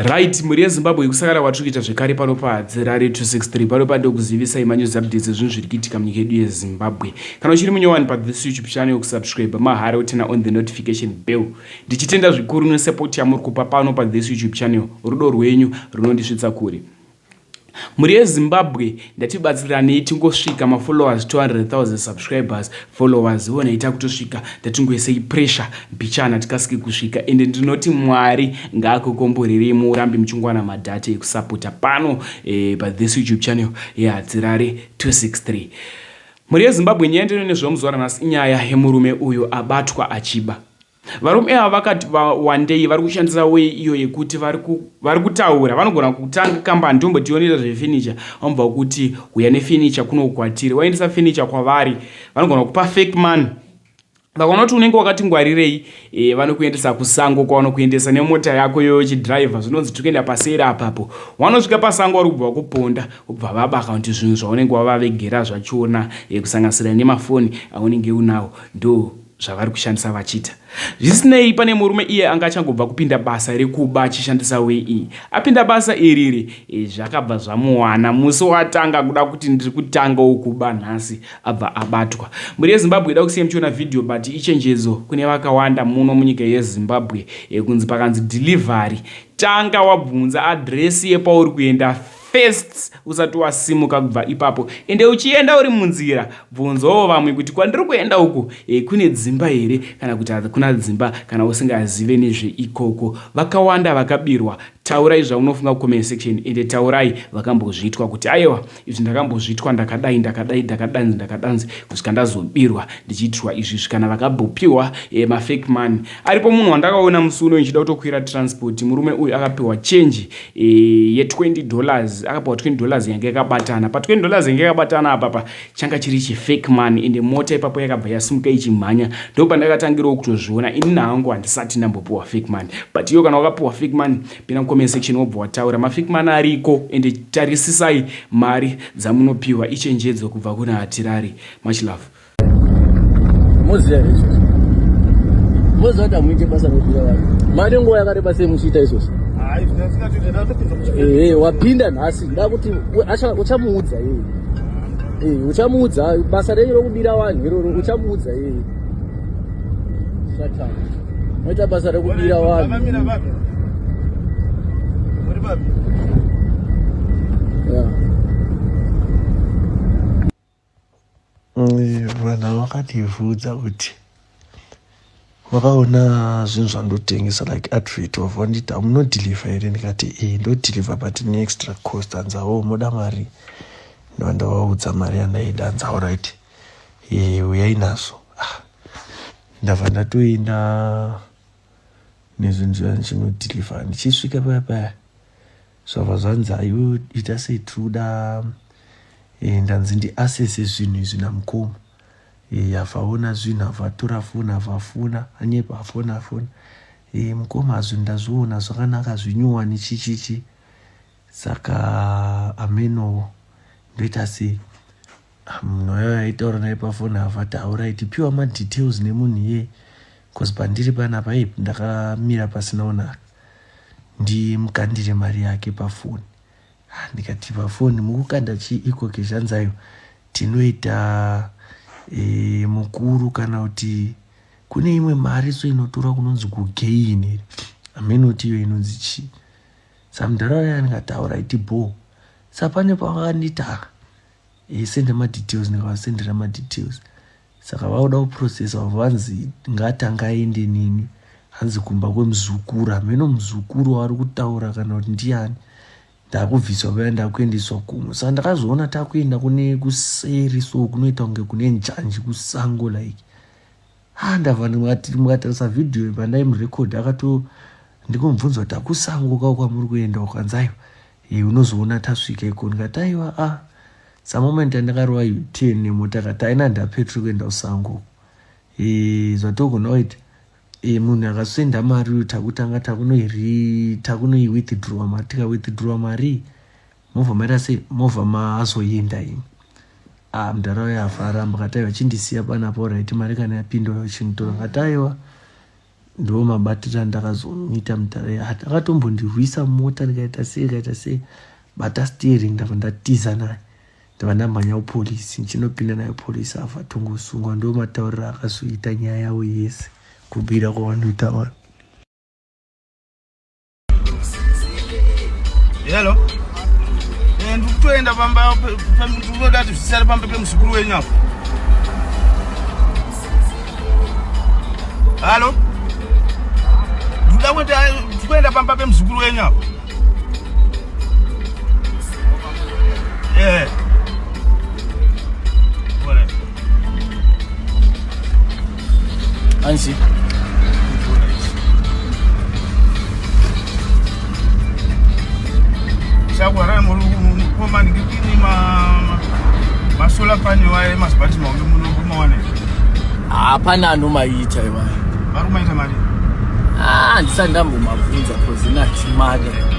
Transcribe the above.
Right, mhuri yeZimbabwe kusakara kwatiri kuita zvekare pano paDzi Rari 263 pano pandokuzivisa ima news updates ezvinhu zviri kuitika munyika yedu yeZimbabwe. Kana uchiri munyowani pa this YouTube channel yokusubscribe mahara woturn on the notification bell. Ndichitenda zvikuru nesupport yamuri kupa pano pa this YouTube channel. Rudo rwenyu runondisvitsa kure. Mhuri yeZimbabwe ndatibatsiranei tingosvika mafollowers 200,000 subscribers followers ivonai takutosvika tatingoisei pressure mbichana tikasike kusvika ende ndinoti Mwari ngaakukomborerei muurambi muchingwana madhata ekusapota pano eh, pa this YouTube channel yeHadzirare 263 Mhuri yeZimbabwe nyaya ndino nezvamuzuva ranhasi inyaya yemurume uyo abatwa achiba Varume ava vakati VaWandei vari kushandisa weyi iyo yekuti vari kutaura vanogona kutanga kambani tombotionera zvefenicha vanobva kuti huya nefenicha kuno kwatiri waendesa fenicha kwavari vanogona kupa fake man vakaona kuti unenge wakati ngwarirei e, vanokuendesa kusango kwavanokuendesa nemota yako iyoyo chidriver zvinonzi tiri kuenda paseri apapo wanosvika pasango vari kubva vakuponda vobva vabaka kuti zvinhu zvaunenge wavavegera zvachona e, kusanganisira nemafoni aunenge unawo ndo zvavari kushandisa vachita zvisinei pane murume iye anga achangobva kupinda basa rekuba achishandisa wei iyi apinda basa iriri e, zvakabva zvamuwana musi watanga kuda kuti ndiri kutanga wokuba nhasi abva abatwa mhuri yezimbabwe ida kusiya muchiona vhidhiyo but ichenjedzo kune vakawanda muno munyika yezimbabwe e, kunzi pakanzi delivery tanga wabvunza adresi yepauri kuenda First usati wasimuka kubva ipapo ende uchienda uri munzira bvunzawo vamwe kuti kwandiri kuenda uku e, kune dzimba here kana kuti hakuna dzimba kana usingazive nezveikoko. Vakawanda vakabirwa. Taurai zvaunofunga kucomment section ende taurai vakambozviitwa kuti ayewa izvi ndakambozviitwa ndakadai ndakadai ndakadanzi ndakadanzi kusvika ndazobirwa ndichiitirwa izvi izvi kana vakabopiwa e, mafake money. Aripo munhu wandakaona musi uno ndichida kutokwira transport murume uyu akapiwa change ye 20 dollars akapiwa 20 dollars yanga yakabatana pa 20 dollars yanga yakabatana apapa changa chiri chi fake money ende mota ipapo yakabva yasimuka ichimhanya ndo pandakatangirawo kutozviona ini nahangu handisati ndambopiwa fake money but iyo kana wakapiwa fake money pina comment section wobva wataura ma fake money ariko ende tarisisai mari dzamunopiwa ichenjedzo kubva kuna hatirari much love moziva here izvozvo moziva kuti hamuite basa rokubira vanhu mane nguva yakareba sei muchiita izvozvo ehe wapinda nhasi nda kuti uchamuudza yeye ehe uchamuudza basa renyu rokubira vanhu iroro uchamuudza yeye moita basa rekubira vanhu yeah. Vanhu vakativudza kuti vakaona zvinhu zvandotengesa like advert of vanditi hamunodhilivha here ndikati e ndodhilivha but neextra cost anzawo oh, moda mari ndova ndavaudza mari yandaida anzawo right e uyai nazo ah, ndava ndatoenda nezvinzira ndichinodhilivha ndichisvika paya paya zvabva zvanzi ayo ita sei tiri kuda eh, ndanzi ndiasese zvinhu izvi namukoma eh, avaona zvinhu avatora foni avafona anyepa afona afona eh, mukoma zvinhu ndazviona zvakanaka zvinyowani chichichi saka amenowo ndoita sei mnoyo aitaura naye pafoni havataura itipiwa madetails nemunhu iye bcause pandiri panapa ip ndakamira pasina onaka ndimukandire mari yake pafoni ah, ndikati pafoni mukukanda chii ikoke zvanzayo tinoita e, mukuru kana kuti kune imwe mari so inotora kunonzi kugeini here amenotiyo inonzi chii samudhara waya andikataura iti bho sapane pavakandita isende madetails ndikavasendera madetails saka vakuda kuprocessa vavo vanzi ngatanga aende nini hanzi kumba kwemuzukuru hameno muzukuru waari kutaura kana kuti ndiyani ndakubviswa vaya ndakuendeswa kumwe saka ndakazoona takuenda kune kuseri so kunoita kunge kune njanji kusango like ha ndava mukatarisa vhidhiyo yepandai murekodhi akato ndikomubvunza kuti akusango kao kwamuri kuenda ukanzayo e unozoona tasvika iko ndikati aiwa a samoment andakarova utn nemota kati aina ndapetri kuenda kusango e zvatogona kuti e munhu akasenda mari uyu takutanga takunoiri takunoiwithdrawa mari tikawithdrawa mari movha maita sei movha maazoyinda imi ah mdara uya afa aramba kataiwa chindisiya panapo right mari kana yapinda uya uchinditora kataiwa ndiwo mabatira ndakazomuita mdara ya akatombondirwisa mota ndikaita sei ndikaita sei bata steering ndava ndatiza naye ndava ndamhanya upolisi ndichinopinda nayo polisi afa tongosungwa ndiwo matauriro akazoita nyaya yavo yese kubira kwavanoita vanhu Hello. Eh, ndikutoenda pamba ndikutoda kuti zvisare pamba pemuzukuru wenyu apo. Hello. Ndikuda kuti ndikuenda pamba pemuzukuru wenyu apo. Eh. Anzi. Chagwara muri kukoma ndikini ma ma solar panel waye mazibati maombe muno kumawana. Hapana anomaita iwayo. Varumaita mari. Ah, ndisandambomabvunza cause ina chimada.